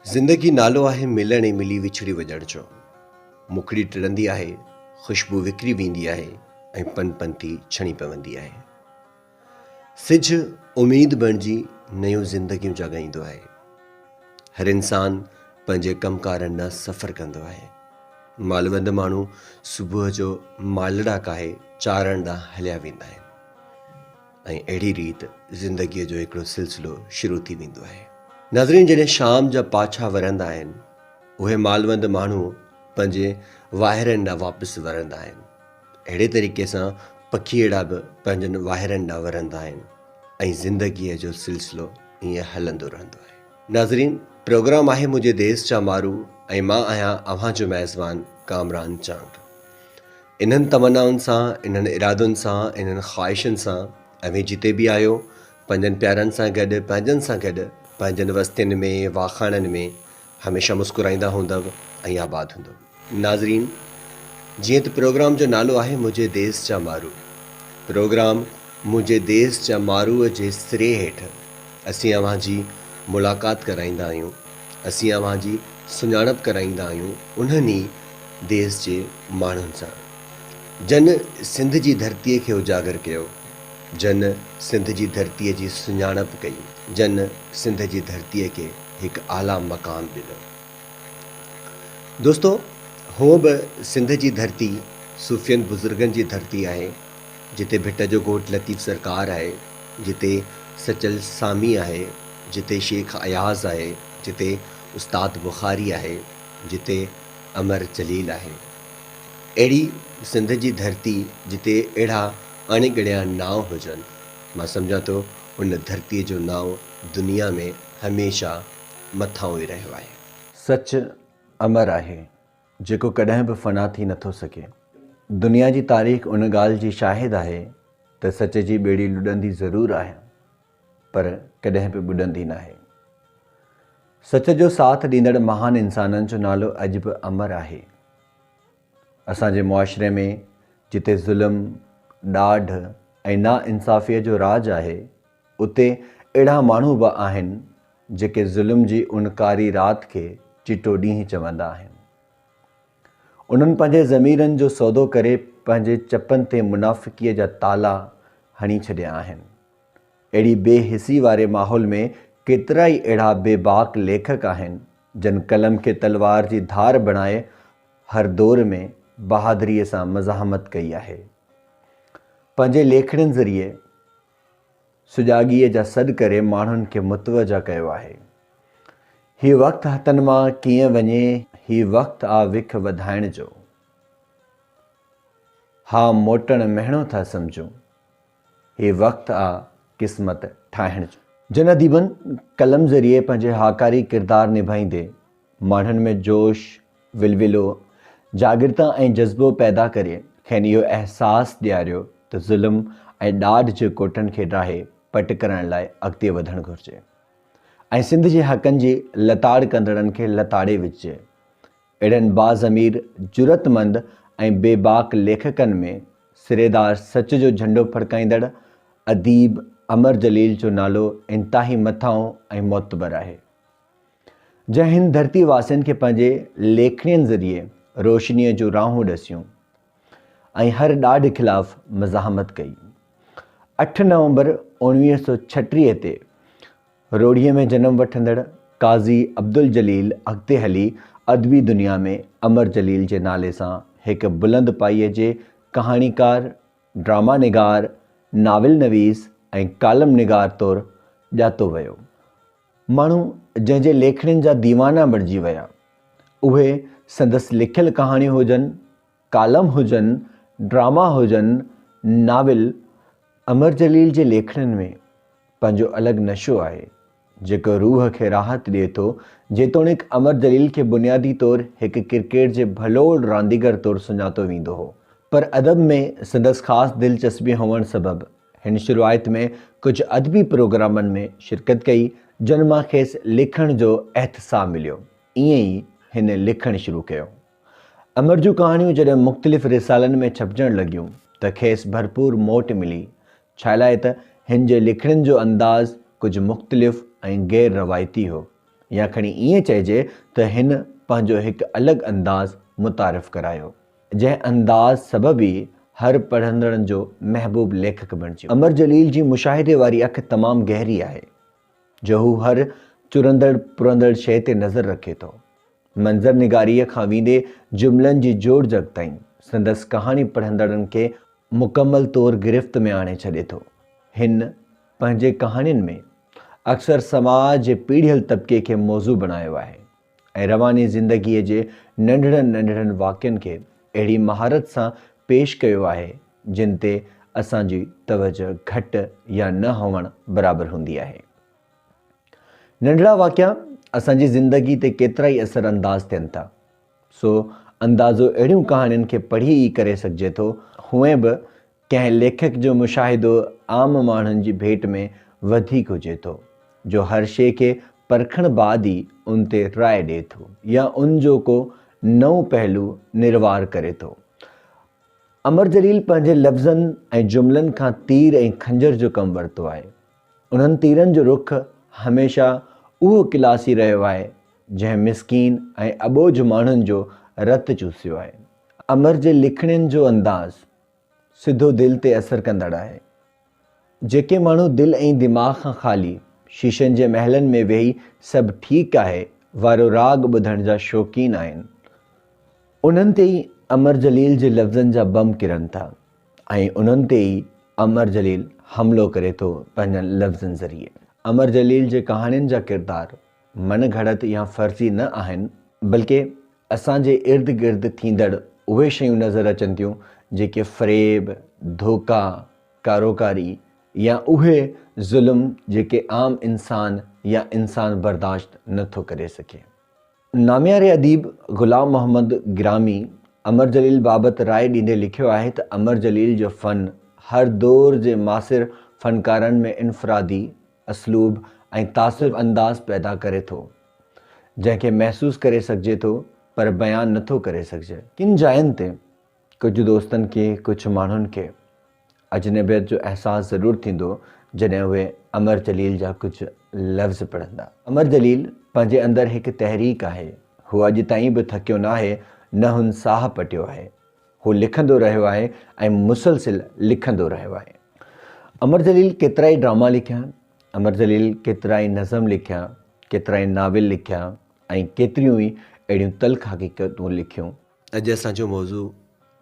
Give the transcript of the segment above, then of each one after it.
زندگي نالو آهي ملڻ ۽ ملي وڇڙي وڄڻ جو مکڙي ٽڙندي آهي خوشبو وکري ويندي آهي ۽ پن پن ٿي ڇڻي پوندي آهي سج اميد بڻجي نيون زندگيون جاڳائيندو آهي هر انسان پنهنجي ڪم ڪارن ڏانهن سفر ڪندو آهي مالوند ماڻهو صبح جو مالڙا ڪاهي چارڻ ڏانهن هليا ويندا آهن ۽ اهڙي ريت زندگيء جو هڪڙو سلسلو شروع ٿي ويندو آهي. ناظرين جڏهن شام جا پاڇا ورندا آهن اهي مالوند ماڻهو پنهنجي واهيرن ڏانهن واپس ورندا آهن. اهڙي طريقي سان پکيئڙا به پنهنجن واهيرن ڏانهن ورندا آهن ۽ زندگيء جو سلسلو ائين هلندو رهندو آهي. ناظرين پروگرام آهي منهنجي ديس جا مارو ۽ مان آهيان اوهان جو ميزبان ڪامران چانگ. انهن تمنائن سان، انهن ارادن سان، انهن خواهشن سان اوهين جتي به آهيو، پنهنجن پيارن سان گڏ، پنهنجن سان گڏ، پنهنجن وستين ۾، واکاڻن ۾، هميشه مسڪرائيندا هوندؤ ۽ آباد هوندؤ. ناظرين! جيئن ته پروگرام جو نالو آهي منهنجي ديس جا مارو، پروگرام منهنجي ديس جا ماروء جي سري هيٺ اسين اوهان جي ملاقات ڪرائيندا آهيون اسين اوهان جي سڃاڻپ ڪرائيندا آهيون انهن ئي ديس جي ماڻهن سان، جن سنڌ جي ڌرتيء کي اجاگر ڪيو، جن سنڌ جي ڌرتيء جي سڃاڻپ ڪئي، جن سنڌ جي ڌرتيء کي هڪ اعليٰ مقام ڏنو. دوستو! هونء به سنڌ جي ڌرتي صوفين بزرگن جي ڌرتي آهي، جتي ڀٽ جو ڳوٺ لطيف سرڪار آهي، جتي سچل سامي آهي، جتي شيخ اياز آهي، جتي استاد بخاري آهي، جتي امر جليل آهي. اهڙي سنڌ جي ڌرتي جتي اهڙا اڻ ڳڻيا نانء هجن، مان سمجهان ٿو ان ڌرتيء جو نانء دنيا ۾ هميشه مٿانهون ئي رهيو آهي. سچ امر آهي. جيڪو ڪڏهن به فنا ٿي نه ٿو سگهي. دنيا جي تاريخ ان ڳالهه جي شاهد آهي ته سچ جي ٻيڙي لڏندي ضرور آهي پر ڪڏهن به ٻڏندي ناهي. سچ جو ساٿ ڏيندڙ مهان انسانن جو نالو اڄ به امر آهي. اسان جي معاشري ۾ جتي ظلم، ڏاڍ ۽ ناانصافيء جو راڄ آهي اتي اهڙا ماڻهو به آهن جيڪي ظلم جي ان ڪاري رات کي چٽو ڏينهن چوندا آهن. انهن پنهنجي ضميرن جو سودو ڪري پنهنجي چپن تي منافقيء جا تالا هڻي ڇڏيا آهن. اهڙي بي حسي واري ماحول ۾ ڪيترائي اهڙا بي باڪ ليکڪ آهن، جن قلم کي تلوار جي ڌار بڻائي هر دور ۾ بهادريء سان مزاحمت ڪئي آهي. پنهنجي ليکڻين ذريعي. سجاڳيء جا سڏ ڪري ماڻهن کي متوجهه ڪيو آهي. هي وقت هٿن مان ڪيئن وڃي، هي وقت آ وک وڌائڻ جو. ها موٽڻ مهڻو ٿا سمجهون، هي وقت آ قسمت ٺاهڻ جو. جن اديبن قلم ذريعي پنهنجي هاڪاري ڪردار نڀائيندي ماڻهن ۾ جوش، ولولو، جاڳرتا ۽ جذبو پيدا ڪري کين اهو احساس ڏياريو ته ظلم ۽ ڏاڍ جي ڪوٽن کي ڊاهي پٽ ڪرڻ لاء اڳتي وڌڻ گهرجي ۽ سنڌ جي حقن جي لتاڙ ڪندڙن کي لتاڙي وجهجي. اهڙن باضمير، جرئتمند ۽ بيباڪ ليکڪن ۾ سريدار سچ جو جهنڊو ڦڙڪائيندڙ اديب امر جليل جو نالو انتهائي مٿانهون ۽ معتبر آهي. جنهن هن ڌرتي واسين کي پنهنجي ليکڻين ذريعي روشنيء جون راهون ڏسيون ۽ هر ڏاڍ خلاف مزاحمت ڪئي. اٺ نومبر اوڻويهه سؤ ڇٽيهه تي روهڙيء ۾ جنم وٺندڙ قاضي عبدالجليل اڳتي هلي ادبي دنيا ۾ امر جليل جي نالي سان هڪ بلند پايي جي ڪهاڻيڪار، ڊراما نگار، ناول نويس ۽ ڪالم نگار طور ڄاتو ويو. ماڻهو جنهن جي ليکڻين جا ديوانا بڻجي ويا، اهي سندس لکيل ڪهاڻيون هجن، ڪالم هجن، ڊراما هجن، ناول، امر جليل جي ليکڻين ۾ پنهنجو الڳ نشو آهي، جيڪو روح کي راحت ڏئي ٿو، جيتوڻيڪ امر جليل کي بنيادي طور هڪ ڪرڪيٽ جي ڀلوڙ رانديگر طور سڃاتو ويندو هو، پر ادب ۾ سندس خاص دلچسپي هئڻ سبب هن شروعات ۾ ڪجهه ادبي پروگرامن ۾ شرڪت ڪئي، جن مان کيس لکڻ جو احتساء مليو. ائين ئي هن لکڻ شروع ڪيو. امر جون ڪهاڻيون جڏهن مختلف رسالن ۾ ڇپجڻ لڳيون ته کيس ڀرپور موٽ ملي، ڇالاء ته هن جي لکڻين جو انداز ڪجهه مختلف ۽ غير روايتي هو، يا کڻي ائين چئجي ته هن پنهنجو هڪ الڳ انداز متعارف ڪرايو. جنهن انداز سبب ئي هر پڙهندڙن جو محبوب ليکڪ بڻجيو. امر جليل جي مشاهدي واري اک تمام گهري آهي، جو هو هر چرندڙ پرندڙ شيء تي نظر رکي ٿو. منظر نگاريء کان ويندي جملن جي جوڙجڪ تائين، سندس ڪهاڻي پڙهندڙن کي مڪمل طور گرفت ۾ آڻي ڇڏي ٿو. هن پنهنجي ڪهاڻين ۾ اڪثر سماج جي پيڙهيل طبقي کي موضوع بڻايو آهي. ۽ رواني زندگيء جي ننڍڙن ننڍڙن واقعن کي اهڙي مهارت سان پيش ڪيو آهي، جن تي اسان جي توجهه گهٽ يا نه هئڻ برابر هوندي آهي. ننڍڙا واقعا اسان جي زندگيء تي ڪيترائي اثر انداز ٿين ٿا، سو اندازو اهڙيون ڪهاڻين کي پڙهي ئي ڪري سگهجي ٿو، هونئن به ڪنهن ليکڪ جو مشاهدو عام ماڻهن جي ڀيٽ ۾ وڌيڪ هجي ٿو، جو هر شيء کي پرکڻ بعد ئي ان تي راء ڏئي ٿو يا ان جو ڪو نئون پهلو نروار ڪري ٿو. امر جليل پنهنجي لفظن ۽ جملن کان تير ۽ خنجر جو ڪم ورتو آهي. انهن تيرن جو رخ هميشه اهو ڪلاسي رهيو آهي، جنهن مسڪين ۽ اٻوجهه ماڻهن جو رت چوسيو آهي. امر جي لکڻين جو انداز سڌو دل تي اثر ڪندڙ آهي. جيڪي ماڻهو دل ۽ دماغ کان خالي شيشن جي محلن ۾ ويهي سڀ ٺيڪ آهي وارو راڳ ٻڌڻ جا شوقين آهن انهن تي ئي امر جليل جي لفظن جا بم ڪرن ٿا ۽ انهن تي ئي امر جليل حملو ڪري ٿو پنهنجن لفظن ذريعي امر جليل جي ڪهاڻين جا ڪردار مڻ گهڙت يا فرضي نه آهن، بلڪه اسان جي ارد گرد ٿيندڙ اهي شيون نظر اچن ٿيون، جيڪي فريب، ڌوڪا، ڪاروڪاري يا اهي ظلم جيڪي عام انسان يا انسان برداشت نه ٿو ڪري سگهي. نامياري اديب غلام محمد گرامي امر جليل بابت راء ڏيندي لکيو آهي ته امر جليل جو فن هر دور جي ماثر فنڪارن ۾ انفرادي، اسلوب ۽ تاثر انداز پيدا ڪري ٿو، جنهن کي محسوس ڪري سگهجي ٿو پر بيان نه ٿو ڪري سگهجي. ڪن جاين تي ڪجهه دوستن کي، ڪجهه ماڻهن کي اجنبيت جو احساس ضرور ٿيندو جڏهن اهي امر جليل جا ڪجهه لفظ پڙهندا. امر جليل پنهنجي اندر هڪ تحريڪ آهي، هو اڄ تائين به ٿڪيو ناهي، نه هن ساهه پٽيو آهي، هو لکندو رهيو آهي ۽ مسلسل لکندو رهيو آهي. امر جليل ڪيترائي ڊراما لکيا، امر جليل ڪيترائي نظم لکيا، ڪيترائي ناول لکيا ۽ ڪيتريون ئي اهڙيون تلخ حقيقتون لکيون. اڄ اسان جو موضوع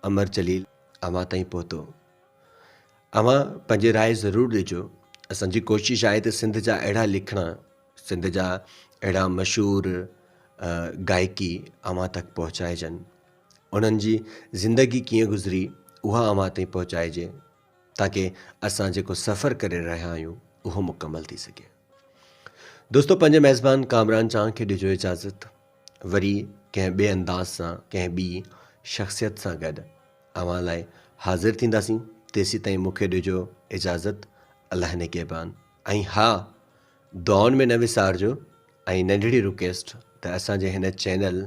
امر جليل اوهان تائين پهتو. اوهان پنهنجي راء ضرور ڏجو. اسان جي ڪوشش آهي ته سنڌ جا اهڙا لکڻا، سنڌ جا اهڙا مشهور گائڪي اوهان تڪ پهچائجن. انهن جي زندگي ڪيئن گذري اها اوهان تائين پهچائجي تاڪه اسان جيڪو سفر ڪري رهيا آهيون اهو مڪمل ٿي سگهي دوستو پنهنجي ميزبان ڪامران چانه کي ڏجو اجازت وري ڪنهن ٻئي انداز سان ڪنهن ٻي شخصيت سان گڏ اوهان لاء حاضر ٿينداسين تيسي تائين مونکي ڏجو اجازت الله نگهبان ۽ ها دعائن ۾ نه وسارجو ۽ ننڍڙي رڪيسٽ ته اسان جي هن چينل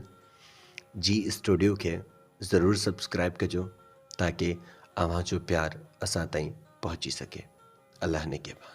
جي اسٽوڊيو کي ضرور سبسڪرائب ڪجو تاڪي اوهان جو پيار اسان تائين پهچي سگهي الله نگهبان.